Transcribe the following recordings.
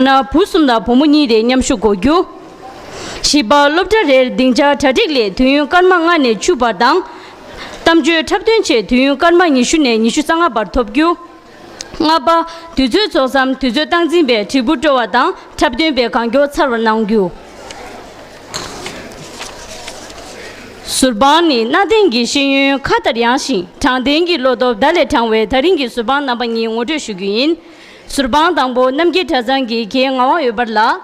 ན་བུ་གསུམ་དང་བུ་མོ་གཉིས་རེ་མཉམ་ཞུགས་གོ་རྒྱུ། བཞི་པ་སློབ་གྲྭ་རེར་སྡིངས་ཆ་གྲ་སྒྲིག་ལས་དུས་ཡུན་སྐར་མ་ལྔ་ནས་བཅུ་བར་དང། གཏམ་བརྗོད་འཁྲབ་སྟོན་བཅས་དུས་ཡུན་སྐར་མ་ཉི་ཤུ་ནས་ཉི་ཤུ་རྩ་ལྔ་བར་ཐོབ་རྒྱུ། ལྔ་པ། དུས་ཚོད་རྫོགས་མཚམས་དུས་ཚོད་སྟངས་འཛིན་པས་དྲིལ་བུ་དཀྲོལ་བ་དང་འཁྲབ་སྟོན་པས་གང་མགྱོགས་ཚར་བར་གནང་རྒྱུ། ཟུར་དཔང་ནི་གནའ་དེང་གི་ཤེས་ཡོན་མཁའ་ལྟར་ཡངས་ཤིང་དྲང་བདེན་གྱི་བློ་སྟོབས་ཟླ་ལས་དྲང་བའི་ད་རིང་གི་ཟུར་དཔང་རྣམ་པ་གཉིས་ངོ་སྤྲོད་ཞུ་རྒྱུ་ཡིན། ཟུར་དཔང་དང་པོ་རྣམ་རྒྱལ་གྲྭ་ཚང་གི་གྱེས་ང་དབང་ཡོད་པར་ལགས།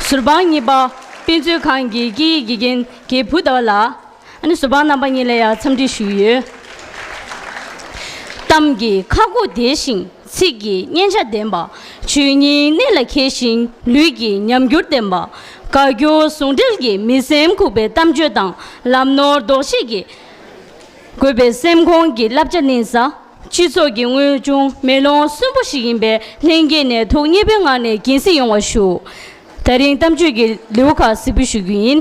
ཟུར་དཔང་གཉིས་པ། དཔེ་མཛོད་ཁང་གི་སྐད་ཡིག་དགེ་རྒན་གྱེས་བུ་ཟླ་བ་ལགས། ཨ་ནུ་ཟུར་དཔང་རྣམ་པ་གཉིས་ལ་ཡང་འཚམས་འདྲི་ཞུས་ཡོད། གཏམ་གྱི་ཁ་སྒོ་བདེ་ཞིང་ཚིག་གི་སྙན་ཆ་ལྡན་པ། ཆོས་ཉིད་གནད་ལ་འཁེལ་ཞིང་ལུས་ཀྱི་ཉམས་འགྱུར་ལྡན་པ། དགའ་སྐྱོ་ཟུང་འབྲེལ་གྱི་མི་སེམས་ཁུག་པའི་གཏམ་བརྗོད་དང་ལམ་ནོར་ལྡོག་བཤིག་གིས་བསྒོས་པའི་སེམས་ཁོང་གི་བསླབ་བྱ་གླིང་ས། སྤྱི་ཚོགས་ཀྱི་དངོས་བྱུང་མེ་ལོང་གསོན་པོ་ཞིག་ཡིན་པའི་ལྷན་སྐྱེས་ནས་ཐུགས་མཉེས་པོའི་ངང་ནས་གྱིན་གཟིགས་ཡོང་བ་ཞུ། ད་རིང་གཏམ་བརྗོད་ཀྱི་ལེའུ་ཁག་གཟིགས་འབུལ་ཞུ་རྒྱུ་ཡིན།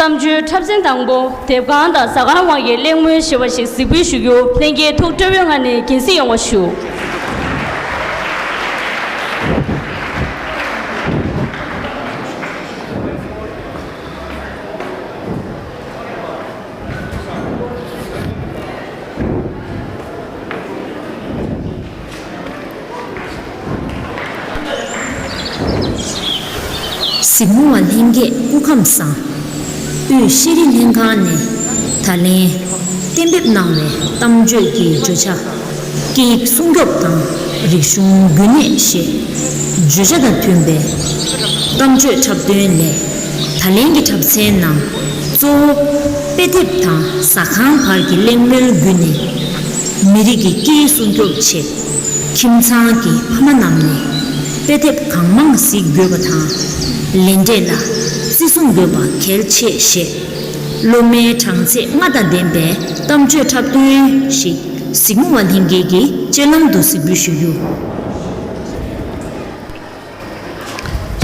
གཏམ་བརྗོད་འཁྲབ་ཚན་དང་པོ་དེབ་གང་དང་ཟ་ཁང་དབང་གི་གླེང་མོལ་ཞེས་པ་ཞིག་གཟིགས་འབུལ་ཞུ་རྒྱུ་ལྷན་རྒྱས་ཐུགས་སྤྲོ་བོའི་ངང་ནས་གྱིན་གཟིགས་ཡོང་བ་ཞུ། གཟིགས་མོ་བ་ལྷན་རྒྱས་སྐུ་ཁམས་བཟང། དབུས་ཤེས་རིག་ལྷན་ཁང་ནས་ད་ལན་གཏན་འབེབས་གནང་བའི་གཏམ་བརྗོད་ཀྱི་བརྗོད་བྱ། སྐད་ཡིག་སྲུང་སྐྱོབ་དང་རིག་གཞུང་རྒྱུན་གནས་ཞེས་བརྗོད་བྱ་དང་མཐུན་པའི་གཏམ་བརྗོད་འཁྲབ་སྟོན་ལས་ད་ལན་གྱི་འཁྲབ་ཚན་ནང་གཙོ་བོ་དཔེ་དེབ་དང་ཟ་ཁང་བར་གྱི་གླེང་མོལ་བརྒྱུད་ནས་མི་རིགས་ཀྱི་སྐད་ཡིག་སྲུང་སྐྱོབ་ཆེད། ཁྱིམ་ཚང་གི་ཕ་མ་རྣམས་ནས་དཔེ་དེབ་གང་མང་གཟིགས་དགོས་པ་དང། ལེན་འབྲས་ལ་བརྩི་སྲུང་དགོས་པ་གལ་ཆེ་ཞེས། སློབ་མའི་གྲངས་ཚད་ལྔ་དང་ལྡན་པའི་གཏམ་བརྗོད་འཁྲབ་སྟོན་ཞིག་གཟིགས་མོ་བ་ལྷན་རྒྱས་ཀྱི་སྤྱོད་ལམ་དུ་གཟིགས་འབུལ་ཞུ་རྒྱུ།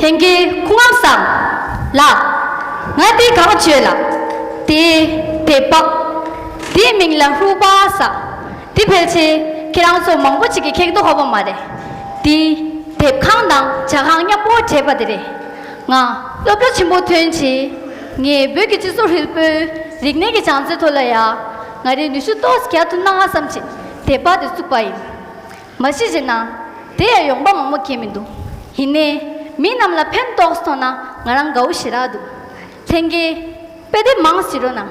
དེང་གི་ཁུངས་ཨང་བསམ་ལགས། ང་དེ་གང་བྱོས་ལ་དེ་དེ་པོ། དེའི་མིང་ལ་ཧུའུ་པ་ས། དེ་ཕལ་ཆེར་ཁྱེད་རང་ཚོ་མང་པོ་ཞིག་གི་ཁེག་དོ་ཧ་བ་མ་རེད། འདི་དེབ་ཁང་དང་བྱ་ཁང་མཉམ་པོ་བྲེས་པ་དེ་རེད། ང་སློབ་གྲྭ་ཆེན་པོ་ཐོན་རྗེས་ངས་བོད་ཀྱི་སྤྱི་ཚོགས་ཧྲིལ་པོའི་རིག་གནས་ཀྱི་བྱང་ཚད་ཐོག་ལ་ཡ་ང་རེ་ནུས་ཤུགས་ཏོག་ཙམ་རྒྱག་ཐུབ་ན་ཧ་བསམ་ཆེད་དེབ་དཔར་དེ་བཙུགས་པ་ཡིན། མ་གཞི་བྱས་ན་དེ་ཡང་ཡོང་འབབ་མང་པོ་སྐྱེས་མི་འདུག་ཡིན་ནས་མི་རྣམས་ལ་ཕན་ཏོག་མཐོང་ན་ང་རང་དགའ་བོ་ཞེ་དྲག་འདུག་ལྷན་རྒྱས་དཔེ་དེབ་མང་ཞིག་རོགས་གནང།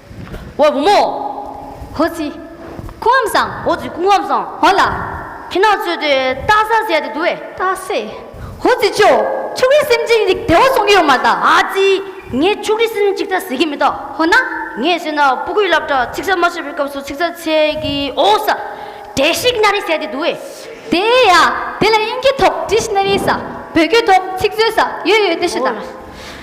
ཝོ་བུ་མོ། ཧོ་ཙི། ཁུ་འམ་སང། ཧོ་ཙི་ཁུ་འམ་སང། ཧོ་ལ། ཁྱི་ནག་ཚོས་དེ་སྟག་ཟ་ཟས་དེ་འདུག་བས། སྟག་ཟས། ཧོ་ཙི་ཅོ། ཕྱུགས་རིགས་སེམས་ཅན་རིགས་བདེ་བ་བཟུང་གི་ཡོད་མ་རེད། ཨ་ཙི། ངས་ཕྱུགས་རིགས་སེམས་ཅན་ཅིག་ཐ་ཟེར་གྱི་མེད། ཧོ་ན། ངས་བྱས་ན་སྤུ་གུས་བསླབ་གྲྭ་ཚིག་གསར་མ་བཤད་པའི་སྐབས་སུ་ཚིག་གསར་ཚད་ཀྱི་ཨོ་ས། Dictionary ཟས་དེ་འདུག་བས། དེ་ཡ། དེ་ལ་དབྱིན་སྐད་ཐོག Dictionaries། བོད་སྐད་ཐོག་ཚིག་མཛོད། ཡོད་ཡོད་དེ་ཞུ་དང།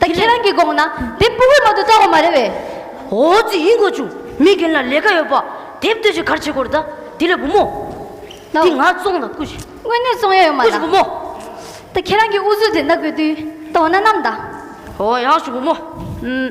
ད་ཁྱེད་རང་གི་དགོངས་ན་དེབ་སྤུ་བོའི་ནང་དུ་བཏང་བ་མ་རེད་བས། ཨོ་རྩིས་ཡིན་དགོས་བྱུང། མི་རྒན་ལ་ལས་ཀ་ཡོད་པ། དེབ་སྟོད་ཅིག་གར་བྱེད་དགོས་རེད་ད། དེ་ལས་བུ་མོ། འདི་ང་བཙོང་དང་སྐུ་ཞིག། དངོས་གནས་བཙོང་ཡ་ཡོད་མ་སྐུ་ཞིག་བུ་རྣམས། མོ། ད་ཁྱེད་རང་གི་འུ་ཟུར་དེ་ནག་པོའི་དུས། ད་འོ་ན་ནམ་ཟླ། ཨོ་ཡག་བྱུང་བུ་མོ། ཨུམ།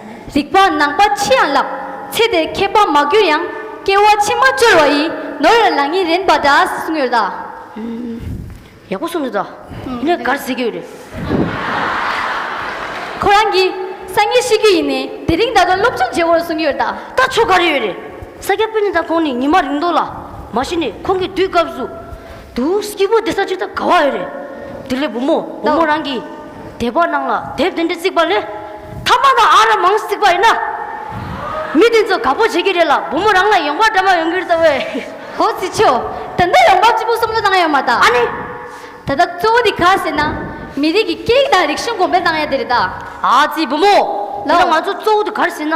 རིག་པ་ནང་པ་ཕྱི་ཡང་བརླག། ཚེ་འདིར་མཁས་པ་མ་གྱུར་ཡང། སྐྱེ་བ་ཕྱི་མ་སྤྱོར་བ་ཡི། ནོར་ཡོད་ལག་གཉིས་རེངས་པ་འདྲ། གསུང་ཡོད་ལ། ཡག་པོ་གསུངས་འདུག་ད། ངས་གར་བཟི་རྒྱུ་རེད། ཁོ་རང་གིས་སང་ཉིན་ཤི་རྒྱུ་ཡིན་ནས་དེ་རིང་ད་དུང་སློབ་ཆུང་བརྗེ་བོར་གསུང་ཡོད་ལ། ད་ཆོ་ག་རེ་ཡོད་རེད། ས་སྐྱ་སྤུན་ཉེ་ཚང་ཁོང་ནི་ཉི་མ་རིང་འདུག་ལ། མ་གཞི་ནས་ཁོང་གི་དུས་སྐབས་སུ། དུ། སྐྱིད་པོ་དེ་ས་ཅི་ད་ག་བ་ཨེ་རེད། དེ་ལས་བུ་མོ་བུ་མོ་རང་གི་དད་པ་གནང་ལ་དེབ་དེ་འདྲ་བརྩིགས་པ་ལས། ཐ་མ་དང་ཨ་ར་མང་བརྩིགས་པ་ཡིན་ན། མི་དེ་ཚོ་དགའ་པོ་བྱེད་ཀྱི་རེད་ལ་བུ་མོ་རང་ལ་ཡོང་འབབ་འདྲ་མ་ཡོང་གི་རེད་ད་བས། ཧོ་ཙི་ཆོ། ད་ལྟ་ཡོང་འབབ་ཅི་པོ་གསུམ་ལོ་གནང་ཡོད་མ་ད། ཨ་ནི། ད་ལྟ་གཙོ་བོ་དེ་ག་ཟེར་ན། མི་རིགས་ཀྱི་སྐད་ཡིག་དང་རིག་གཞུང་གོང་འཕེལ་གནང་ཡ་དེ་རེད་ད། ཨ་ཙི་བུ་མོ། དེ་ལ་ང་ཚོ་གཙོ་བོ་དེ་ག་རེ་ཟེར་ན།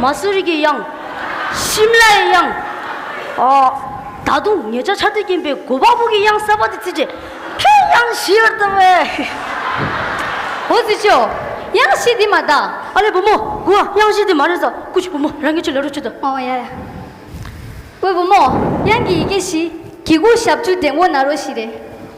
མ་སུ་རི་གི་དབྱངས། ཤིམ་ལ་ཡའི་དབྱངས། ཨ། ད་དུང་ངེད་ཅག་ཆར་དུས་སྐྱེས་པའི་གོ་འཕང་ཕུག་གི་དབྱངས་གསར་པ་དེ་བརྩིས་ཏེ། ཁྱོད་དབྱངས་བཞི་ཡོད་དམ་བེ། ཨོ་རྩིས་ཆོས། དབྱངས་བཞི་འདི་མ་གདའ། ཨ་ལས་བུ་མོ། དགུ་ཨ་དབྱངས་བཞི་འདི་མ་རེད་ས། ཀུ་ཤི་བུ་མོ་རང་ངེད་ཆུ་ལེ་རུ་ཆུ་དང། ཨོ་ཡ་ཡ། བུ་བུ་མོ། དབྱངས་ཀྱི་ཡི་གེ་བཞི། གི་གུ་ཞབས་བཅུ་དེ་མགོ་ན་རོ་བཞི་རེད།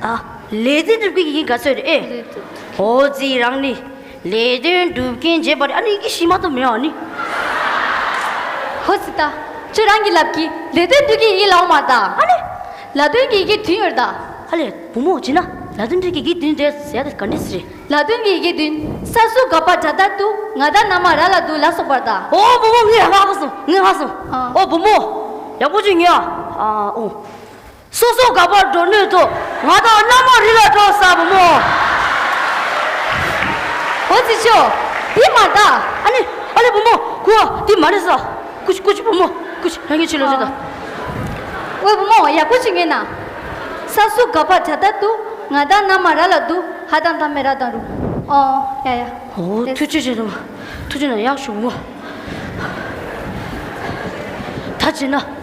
ཨ། ལས་དོན་སྒྲུབ་མཁན་གྱི་ག་ཚོད་རེད་ཨེ། ཨོ་རྩིས་རང་ནི། ལས་དོན་སྒྲུབ་མཁན་རྗེས་པ་རེད་ཨ་ནི་ཡི་གེ་ཤི་མ་ཐོབ་མི་ཨ་ནི། ཧོ་རྩིས་ད། ཁྱོད་རང་གི་ལབ་ཀྱི་ལས་དོན་སྒྲུབ་མཁན་ཡི་གེ་ལའོ་མ་ད། ཨ་ནི། ལ་དོན་གྱི་ཡི་གེ་བདུན་ཡོད་ད། ཨ་ལས། བུ་མོ་བྱས་ན་ལ་དོན་སྒྲུབ་མཁན་ཡི་གེ་བདུན་རེད་ཟེར་ཡ་ད་ག་འདྲི་སི་རེད། ལ་དོན་གྱི་ཡི་གེ་བདུན་སར་སུ་ག་པ་དྲ་དར་དུ་ང་ད་ན་མ་ར་ལ་འདུག་ལ་སོགས་པར་ད། ཨོ་བུ་མོ་ངས་ཧ་གོ་སོང་ངས་ཧ་སོང། ཨོ་བུ་མོ། ཡག་པོ་བྱོས་ངས་ཨ་ཨོ། སོ་སོ་དགའ་བར་འགྲོ་ནུས་སོ། ང་དང་སྣ་མོ་རི་ལ་འགྲོ་ས་བུ་མོ། ཨོ་རྩི་ཤོ། འདི་མ་བལྟ། ཨ་ནི། ཨ་ལེ་བུ་མོ། ཁུ་བ། འདི་མ་རེད་ས། ཀུ་ཤི་ཀུ་ཤི་བུ་མོ། ཀུ་ཤི། རང་གི་ཆེད་ལས་རེད་ད། ཨོའི་བུ་མོ། ཡག་པོ་ཞིག་ངེས་ན། ས་སུ་དགའ་བར་བྱ་ད་དུ། ང་དང་སྣ་མ་ར་ལ་འདུག་ཧ་དང་ད་མེ་ར་དང་རུ། ཨོ། ཡ་ཡ། ཨོ། ཐུགས་རྗེ་ཆེ་ད་བུ། ཐུགས་རྗེ་ན་ཡག་ཞུ་བུ་མོ། ད་བྱས་ན།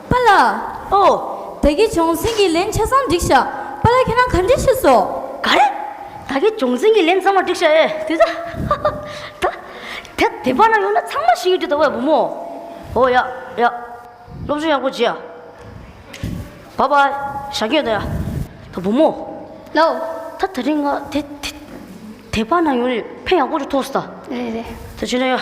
པཱ་ལགས། ཨོ། ད་གེ་སྦྱོང་ཟིན་གྱི་ལན་ཆ་ཚང་བསྒྲིགས་བཞག་པཱ་ལགས་ཁྱེད་རང་ག་འདྲི་ཤེས་སོ། ག་རེ། ད་གེ་སྦྱོང་ཟིན་གྱི་ལན་ཚང་བ་བསྒྲིགས་བཞག་ཨེ། དེ་ད། ད། དེ་དེ་པ་ན་ཡོང་ན་ཚང་མ་ཤེས་ཀྱི་འདུག་ད་བས་བུ་མོ། ཨོ་ཡ། ཡ། སློབ་སྦྱོང་ཡག་པོ་བྱེད་ཨ། བ་བ། ཞག་སྐྱོན་ད་ཡ། ད་བུ་མོ། ལོ། ད་ད་རིང་ང་དེ་དེ་དེ་པ་ན་ཡོང་ནས་ཕན་ཡག་པོ་རུ་ཐོགས་སོ་ད། རེད་རེད། ད་བྱོས་ན་ཡ།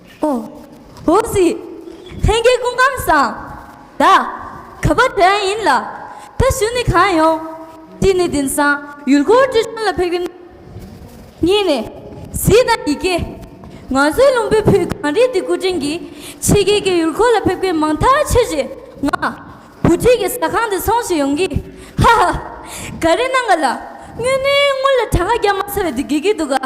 ཨོ་ཨོ་ཟི། ལྷན་རྒྱས་སྐུ་ཁམས་བཟང། བདག་ག་པ་དྲན་ཡིན་ལ། ད་བཞུད་ནི་གང་ཡོང། གཅིག་ནི་དིན་སང་ཡུལ་སྐོར་བཀྲིས་ཆོན་ལ་ཕེབས་ཀྱི་འདུག། གཉིས་ནི། གཟིགས་དང་ཡི་གེ། ང་ཚོའི་ལུང་པའི་བུ་གངས་རི་འདི་སྐུ་དྲིན་གྱིས་ཕྱི་རྒྱལ་གྱི་ཡུལ་སྐོར་ལ་ཕེབས་མཁན་མང་ཐག་ཆོད་ཆེ། ང། བུ་ཁྲིད་ཀྱི་ཟ་ཁང་འདི་ཚོང་བྱེད་ཡོང་གི། ཧ་ཧ། ག་རེ་གནང་ག་ལ། སྨྱོས་ནི་སྔོན་ལ་གྲངས་ཀ་བརྒྱ་མ་ཚར་བའི་དུས་དགེ་གི་འདུག་ག།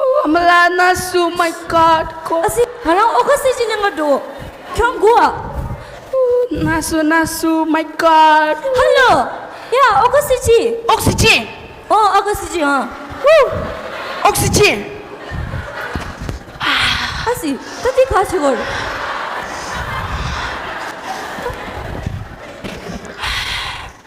ཨོ་མ་ལ་ན་སུ་མའི་ཀར་ཀོ། ཨ་སི་ང་རང་ཨོ་ཁ་སི་ཅི་ནས་ང་འགྲོ། ཁྱོད་མགུ་བ། ན་སུ་ན་སུ་མའི་ཀར་ཀོ། ཧ་ལོ། ཡ་ཨོ་ཁ་སི་ཅི། ཨོ་སི་ཅི། ཨོ་ཨ་ཁ་སི་ཅི་ཨ། ཨོ་སི་ཅི། ཨ་སི་ད་འདི་ག་ཆུ་བོར།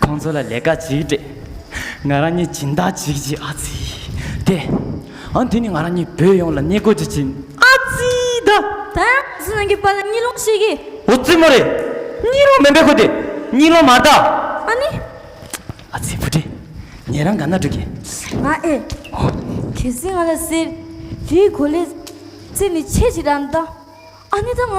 ཁོང་ཚོ་ལ་ལས་ཀ་ཅིག་སྤྲད། ང་རང་གཉིས་སྦྱིན་བདག་ཅིག་བྱེད་ཨ་ཙི་ཏེ། ཨང་དེ་ནི་ང་རང་གཉིས་བོད་ཡོངས་ལ་བསྙད་བཀུར་གྱིས་སྦྱིན་ཨ་ཙི་ད། ད་ཡང་ཨ་ཙི་ནང་གི་པར་ལ་གཉིས་ལོང་བྱེད་ཀྱི། འོ་ཙི་མོ་རེད། གཉིས་ལོང་མིན་པའི་ཁུལ་དེ་གཉིས་ལོང་མ་གདའ། ཨ་ནི། ཨ་ཙི་བུ་དྲེད། ངེད་རང་ག་ན་འགྲོ་གི། ང་ཨེ། འོ། གལ་སྲིད་ང་ལ་ཟེར། དེའི་གོ་ལའི། ཙི་ནི་ཆེས་ཆེ་དྲག་མདའ། ཨ་ནི་ད་ང།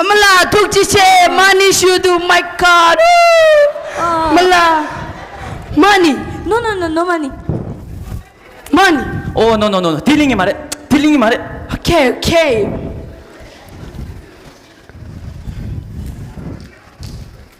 ཨ་མ་ལགས་ཐུགས་རྗེ་ཆེ་མ་ཎི་ཞུ་དུ་མ་ཀཱ་རཱུ། མ་ལ། མ་ཎི། ནོ་ནོ་ནོ་ནོ་མ་ཎི། མ་ཎི། ཨོ་ནོ་ནོ་ནོ་ནོ་དེ་གླིང་གི་མ་རེད་དེ་གླིང་གི་མ་རེད། ཨ་ཁེ་ཨ་ཁེ།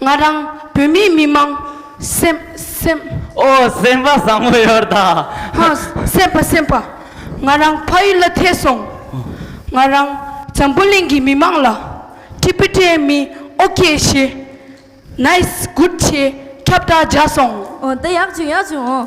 ང་རང་བོད་མིའི་མི་མང། སེམས། སེམས། ཨོ་སེམས་པ་བཟང་མོ་ཡོར་ད། ཧ། སེམས་པ་སེམས་པ། ང་རང་ཕ་ཡུལ་ལ་ཐེ་སོང། ང་རང་འཛམ་བུ་གླིང་གི་མི་མང་ལ། ཏི་པི་ཏའི་མི་ཨོ་ཀེ་ཤེ། ནའི་སི་གུར་ཆེ་ཁྱབ་བསྒྲགས་བརྒྱག་སོང། འོ་ད་ཡག་བྱུང་ཡག་བྱུང་ཨོ།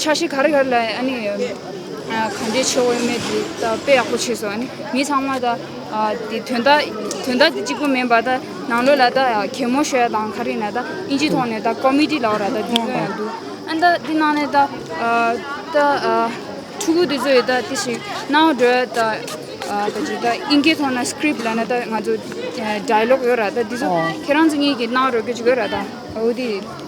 ཆ་ཤས་ག་རེ་ག་རེ་ལ་ཨ་ནི་གང་འདྲའི་ཆེ་བ་ཡོད་མེད་དེ་དཔེ་ཡག་པོ་བྱས་སོང་ཨ་ནི་མི་ཚང་མ་དང་དེ་དོན་དག་དོན་དག་དེ་གཅིག་པུ་མིན་པར་ད་ནང་ལོགས་ལ་ད་གད་མོ་ཤོད་ཡག་དང་ག་རེ་ཡིན་ན་ད་ཨིན་ཇིའི་ཐོག་ནས་ད་ཀོ་མི་ཏི་ལ་བར་ད་འདི་ཚོ་ཡང་འདུག་ཨ་ད་དེ་ནང་ནས་ད་ད་ཕྲུ་གུ་དེ་ཚོ་ཡི་ད་དེ་བཞིན་གནའ་བོའི་འགྲོས་ད་ད་ཅིག་ད་ཨིན་སྐད་ཐོག་ན script ལ་ན་ད་ང་ཚོ dialogue ཡོད་ར་ད་དེ་ཚོ་ཁྱེད་རང་ཚོ་གཉིས་ཀྱིས་གནང་རོགས་གྱོ་ཅིག་གོ་ར་ད་འོ་དེ